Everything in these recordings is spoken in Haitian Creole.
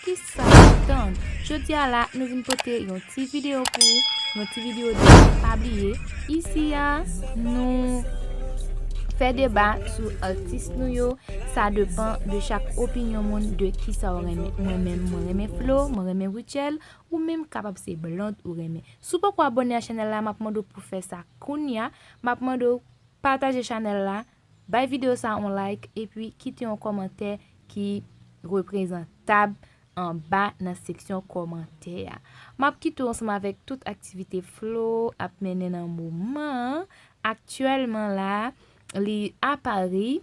Kisa w ap tann? Jodi a la nou vin pote yon ti video pou ou, yon ti video de pa bliye. Isi a nou fè deba sou atis nou yo, sa depan de chak opinyon moun de kisa w renmen. Mwen menm mwen renmen Flo, mwen renmen Rutshelle, ou menm kapab se Blonde ou renmen. Si w poko abone a chanèl la m ap mande w pou fè sa kounya, m ap mande w pataje chanèl la. Bay video sa on like epi kite yon kòmantè ki reprezantab anba nan seksyon kòmantè a. Map kite w ansanm avèk tout aktivite Flo ap mennen nan moman an. Aktyèlman la a, li a Paris.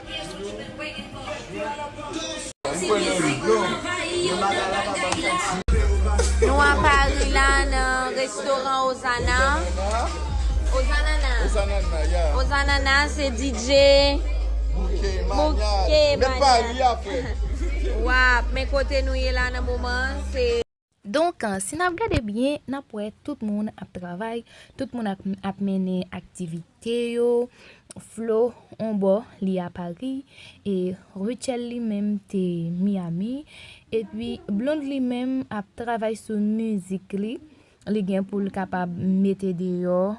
Nou a Paris la nan restoran Ozana Ozanana se DJ Bouke Mania Wap men kote nou ye la nan moman se Donk, si n ap gade byen, n ap wè tout moun ap travay, tout moun ap mennen aktivite yo, Flo on bò li a Pari, e Rutshelle li menm te Miyami, epi Blonde li menm ap travay sou mizik li, li gen pou l kapab mete deyò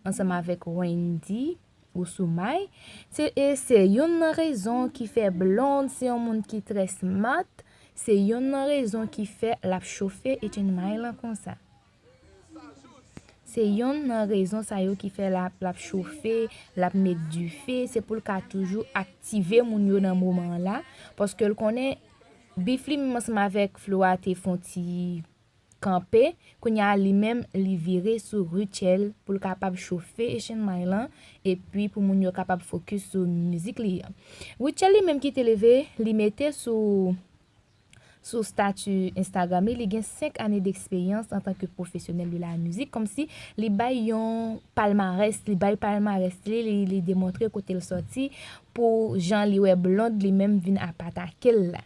ansanm avèk Wendyy. Ou sou may, se e se yonn nan rezon ki fè Blonde se yon moun ki trè smart, se yonn nan rezon ki fè lap chofe Etienne May lan konsa. Se yonn nan rezon sa yo ki fè lap lap chofe, lap met dife, se pou l ka toujou aktive moun yo nan moman an la, paske l konnen Bifly menm ansanm avèk Flo a te fon ti Kanpe, kounya li menm li vire sou Rutshelle pou l kapab chofe echenmay lan epi pou moun yo kapab fokis sou mizik li an. Rutshelle li menm kite leve, li mete sou sou stati Instagram li, li gen 5 ane deksperyans antan ke pwofesyonèl de la mizik, kòmsi li bay yon palmarès, li bay palmarès li, li demontre kote l sòti pou jan li wè Blonde li menm vin ap atake l la.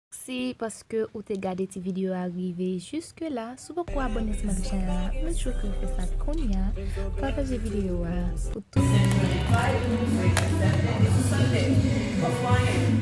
Mèsi paske ou te gade ti video a rive jiske la, si w poko abone sou menm channel la make sure ke ou fè sa kounya, pataje video a pou tout moun ki bezwen aprann.